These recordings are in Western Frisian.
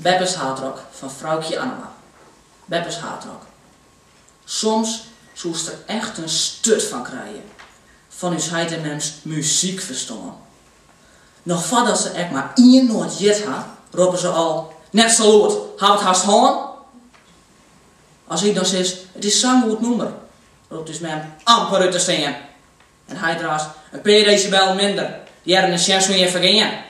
Beppes hardrock fan Froukje Annema. Beppes hardrock. Soms soest der echt in sturt fan krije. Fan ús heit en mems muzykferstân. Noch foardat se ek mar ien noat heard ha, roppe se al, Net sa lûd, haw it hast hân! As ik dan sis, It is sa'n goed nûmer, ropt ús mem amper út te stean. En heit raast, In pear desibel minder, hearren en sjen soe jin fergean!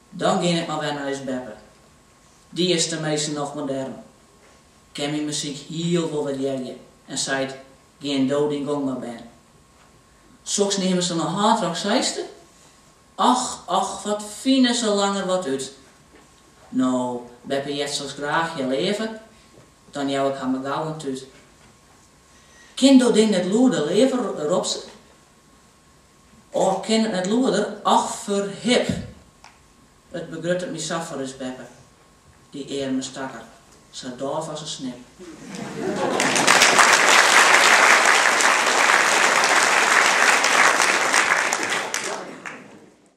Dan gean ik mar wer nei ús beppe. Dy is tenminsten noch modern, kin myn muzyk hiel wol wurdearje en seit, Gean do dyn gong mar bern. Soks neame se no hardrock seiste. Och, och, wat fine se langer wat út. No, beppe heart soks graach hear leave, dan jou ik har mar gau in tút. Kin dat ding net lûder leave, ropt se. Of kin it net lûder, och ferhip! It begruttet my sa foar ús beppe, dy earme stakker, sa dôf as in snip.